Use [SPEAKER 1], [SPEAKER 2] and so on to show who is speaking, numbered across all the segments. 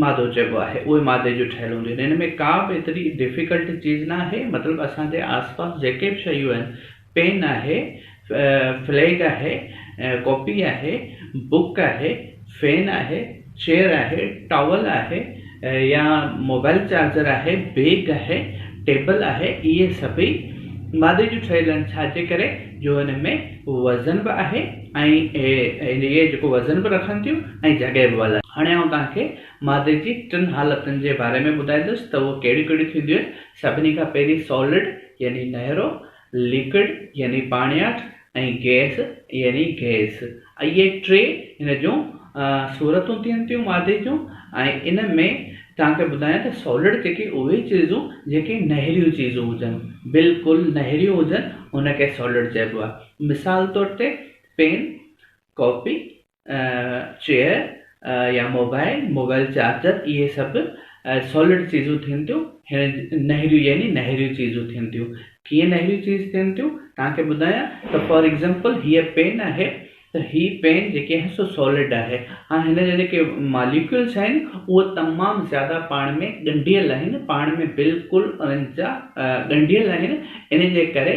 [SPEAKER 1] مادو چئبو آهي اهي مادي جون ٺهيل هونديون آهن هن ۾ ڪا به ايتري ڊفيڪلٽ چيز ناهي مطلب اسان جي آس پاس جيڪي به شيون آهن پين آهي فليگ آهي ڪاپي آهي بوڪ آهي فين آهي چيئر آهي ٽاول آهي يا موبائل چارجر آهي بيگ آهي ٽيبل آهي اهي سڀئي مادي جون ٺهيل آهن ڇاجي ڪري جو هن ۾ وزن به آهي ۽ اهي جيڪو وزن به رکن ٿيون ۽ جڳهه به والارين. هاڻي آئون توهان کي مادي جي ٽن حالتن جي باري ۾ ٻڌائيندس ته اهي ڪهڙيون ڪهڙيون ٿينديون آهن. سڀني کان پهرين سالڊ يعني نهرو، ليڪوڊ يعني پاڻياٺ ۽ گئس يعني گئس. اهي ٽي هن جون صورتون ٿين ٿيون مادي جون ۽ ان ۾ توهان کي ٻڌايان ته سالڊ جيڪي اهي چيزون جيڪي نهريون چيزون هجن بلڪل نهريون هجن ان کي سالڊ چئبو آهي. مثال طور تي پين، ڪاپي، چيئر يا موبائل، موبائل چارجر اهي سڀ سالڊ چيزون ٿين ٿيون هن نهريون يعني نهريون چيزون ٿين ٿيون ڪيئن نهريون چيز ٿين ٿيون تان کي ٻڌايان ته فار ايگزامپل هيء پين آهي ته هي پين جيڪي آهي سو سالڊ آهي هاڻ هن جا جيڪي ماليڪولس آهن اهو تمام زياده پاڻ ۾ ڳنڍيل آهن پاڻ ۾ بلڪل انهن جا ڳنڍيل آهن انهن جي ڪري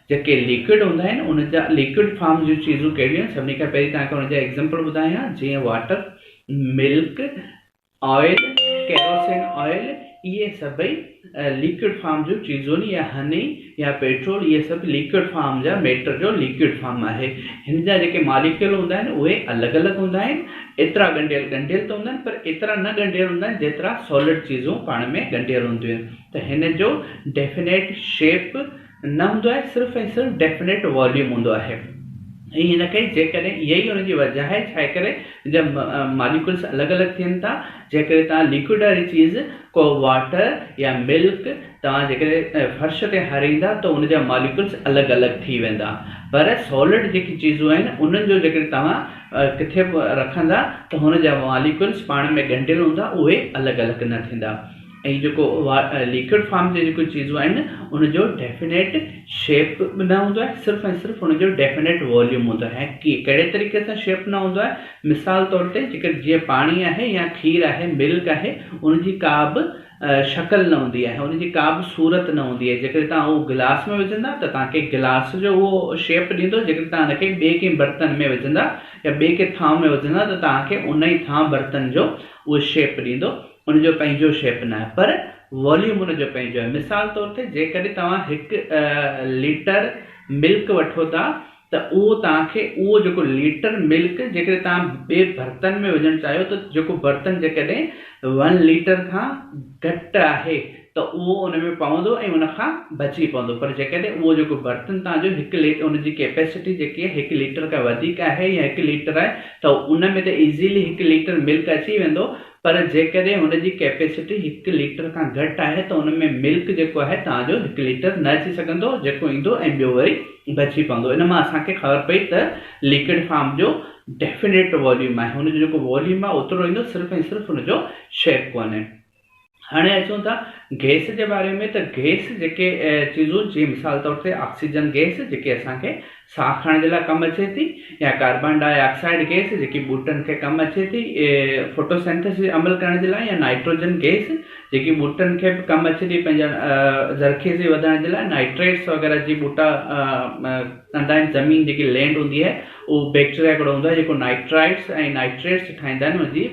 [SPEAKER 1] جيڪي ليڪوڊ هوندا آهن ان جا ليڪوڊ فارم جون چيزون ڪهڙيون آهن سڀني کان پهرين توهان کي ان جا ايگزامپل ٻڌايان جيئن water milk oil kerosene oil اهي سڀئي ليڪوڊ فارم جون چيزون آهن يا هني يا پيٽرول اهي سڀ ليڪوڊ فارم جا ميٽر جو ليڪوڊ فارم آهي هن جا جيڪي ماليڪيول هوندا آهن اهي الڳ الڳ هوندا آهن ايترا ڳنڍيل ڳنڍيل ته هوندا آهن پر ايترا نه ڳنڍيل هوندا آهن جيترا سولڊ چيزون پاڻ ۾ ڳنڍيل هونديون آهن ته هن جو ڊيفينيٽ شيپ نه هوندو آهي صرف ۽ صرف ڊيفنيٽ واليوم هوندو آهي ۽ هن ڪري جيڪڏهن اها ئي ان جي وجه آهي ڇا ڪري جب ماليڪولس الڳ الڳ ٿين ٿا جنهن ڪري توهان ليڪوڊ واري چيز ڪو واٽر يا ملڪ توهان جيڪڏهن فرش تي هاريندا ته ان جا ماليڪولس الڳ الڳ ٿي ويندا پر سولڊ جيڪي چيزون آهن انهن جو جيڪڏهن توهان ڪٿي به رکندا ته هن جا ماليڪولس پاڻ ۾ ڳنڍيل هوندا اهي الڳ الڳ نه ٿيندا ۽ جيڪو ليڪوڊ فارم جي جيڪو چيزون آهن ان جو ڊيفينيٽ شيپ به نه هوندو آهي صرف ۽ صرف ان جو ڊيفينيٽ واليوم هوندو آهي ۽ ڪي ڪهڙي طريقي سان شيپ نه هوندو آهي مثال طور تي جيڪر جيئن پاڻي آهي يا کير آهي ملڪ آهي ان جي ڪا به شڪل نه هوندي آهي ان جي ڪا به صورت نه هوندي آهي جيڪڏهن تان اهو گلاس ۾ وجهندا ته تان کي گلاس جو اهو شيپ ڏيندو جيڪڏهن تان ان کي ٻي ڪنهن برتن ۾ وجهندا يا ٻي ڪنهن ٿانو ۾ وجهندا ته تان کي ان ئي ٿانو برتن جو اهو شيپ ڏيندو ان جو پنهنجو شيپ ناهي پر واليوم ان جو پنهنجو آهي مثال طور تي جيڪڏهن توهان هڪ ليٽر ملڪ وٺو ٿا ته اهو توهان کي اهو جيڪو ليٽر ملڪ جيڪڏهن توهان ٻئي برتن ۾ وجهڻ چاهيو ته جيڪو برتن جيڪڏهن ون ليٽر کان گهٽ آهي ته اهو ان ۾ پوندو ۽ ان کان بچي پوندو پر جيڪڏهن اهو جيڪو برتن توهان جو هڪ ليٽر ان جي ڪيپيسٽي جيڪي آهي هڪ ليٽر کان وڌيڪ آهي يا هڪ ليٽر آهي ته ان ۾ ته ايزيلي هڪ ليٽر ملڪ اچي ويندو پر جيڪڏهن ان جي ڪيپيسٽي هڪ ليٽر کان گهٽ آهي ته ان ۾ ملڪ جيڪو آهي توهان جو هڪ ليٽر نه اچي سگهندو جيڪو ايندو ۽ ٻيو وري بچي پوندو ان مان اسان کي خبر پئي ته ليڪوڊ فارم جو ڊيفنيٽ واليوم آهي ان جو جيڪو واليوم آهي اوترو ايندو صرف ۽ صرف ان جو شيپ ڪونهي هاڻي اچون ٿا گئس جي باري ۾ ته گئس جيڪي چيزون جي مثال طور تي آڪسيجن گئس جيڪي اسان کي ساهه کڻڻ جي لاء ڪم اچي ٿي يا ڪاربان ڊاء آڪسائيڊ گئس جيڪي ٻوٽن کي ڪم اچي ٿي ڦوٽوسينٿيسز عمل ڪرڻ جي لاء يا نائٽروجن گئس جيڪي ٻوٽن کي به ڪم اچي ٿي پنهنجا زرخيزي وڌائڻ جي لاء نائٽريٽس وغيره جي ٻوٽا ڪندا آهن زمين جيڪي لينڊ هوندي آهي اهو بيڪٽريا هڪڙو هوندو آهي جيڪو نائٽرائٽس ۽ نائٽريٽس ٺاهيندا آهن انهن جي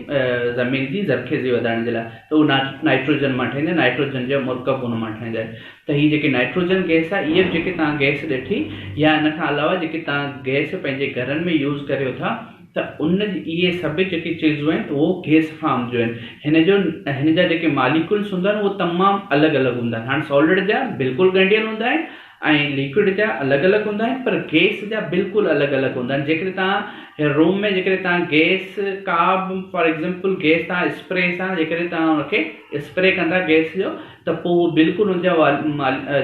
[SPEAKER 1] زمين جي زرخيزي وڌائڻ جي لاء ته اهو نائٽروجن مان ٺاهيندا آهن نائٽروجن جا مرڪب ان مان ٺاهيندا آهن ته هي جيڪي نائٽروجن گئس آهي اهي به جيڪي توهان گئس ڏٺي يا ان کان علاوه جيڪي توهان گئس پنهنجي گهرن ۾ يوز ڪريو ٿا ته ان اهي سڀ جيڪي چيزون آهن اهو گئس فارم جون آهن هن جو هن جا جيڪي ماليڪولس هوندا آهن اهو تمام الڳ الڳ هوندا آهن هاڻ سالڊ جا بلڪل ڳنڍيل هوندا آهن ۽ ليڪوڊ جا الڳ الڳ هوندا آهن پر گئس جا بلڪل الڳ الڳ هوندا آهن جيڪڏهن توهان روم ۾ جيڪڏهن توهان گئس ڪا به فار ايگزامپل گئس توهان اسپري سان جيڪڏهن توهان ان کي اسپري ڪندا گئس جو ته پوء اهو بلڪل ان جا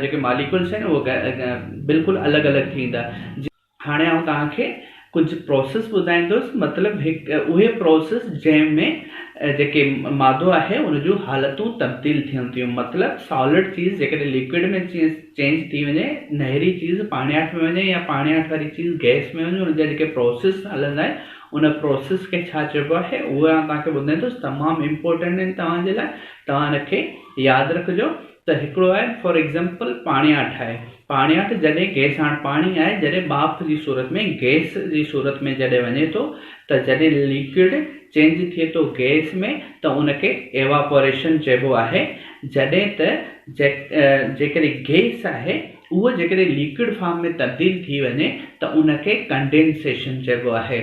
[SPEAKER 1] جيڪي ماليڪولس آهن اهي بلڪل الڳ الڳ ٿيندا. هاڻي آئون توهان کي ڪجهه پروسيس ٻڌائيندس مطلب هڪ اهي پروسيس جنهن ۾ جيڪي مادو آهي ان جون حالتون تبديل ٿين ٿيون مطلب سالڊ چيز جيڪڏهن ليڪوڊ ۾ چينج ٿي وڃي نهري چيز پاڻياٺ ۾ وڃي يا پاڻياٺ واري چيز گئس ۾ وڃي ان جا جيڪي پروسيس هلندا آهن ان پروسيس کي ڇا چئبو آهي اهو آئون توهان کي ٻڌائيندس تمام امپورٽنٽ آهن توهان جي لاء توهان ان کي ياد رکجو ته هڪڙو آهي فار ايگزامپل پاڻياٺ آهي پاڻياٺ جڏهن گيس هاڻ پاڻي آهي جڏهن ٻاڦ جي صورت ۾ گيس جي صورت ۾ جڏهن وڃي ٿو ته جڏهن ليڪوڊ چينج ٿئي ٿو گيس ۾ ته ان کي ايواپوريشن چئبو آهي جڏهن ته جيڪڏهن گيس آهي اهو جيڪڏهن ليڪوڊ فارم ۾ تبديل ٿي وڃي ته ان کي ڪنڊينسيشن چئبو آهي.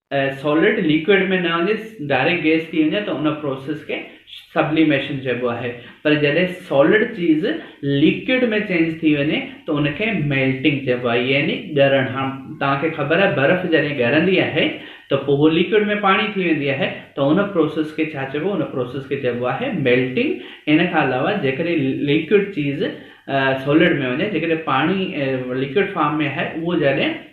[SPEAKER 1] سولڊ ليڪوڊ ۾ نه وڃي ڊائريڪٽ گيس ٿي وڃي ته ان پروسيس کي سبليميشن چئبو آهي پر جڏهن سولڊ چيز ليڪوڊ ۾ چينج ٿي وڃي ته ان کي ميلٽنگ چئبو آهي يعني ڳرڻ هاڻ توهان کي خبر آهي برف جڏهن ڳرندي آهي ته پوء هو ليڪوڊ ۾ پاڻي ٿي ويندي آهي ته ان پروسيس کي ڇا چئبو ان پروسيس کي چئبو آهي ميلٽنگ ان کان علاوه جيڪڏهن ليڪوڊ چيز سولڊ ۾ وڃي جيڪڏهن پاڻي ليڪوڊ فارم ۾ آهي اهو جڏهن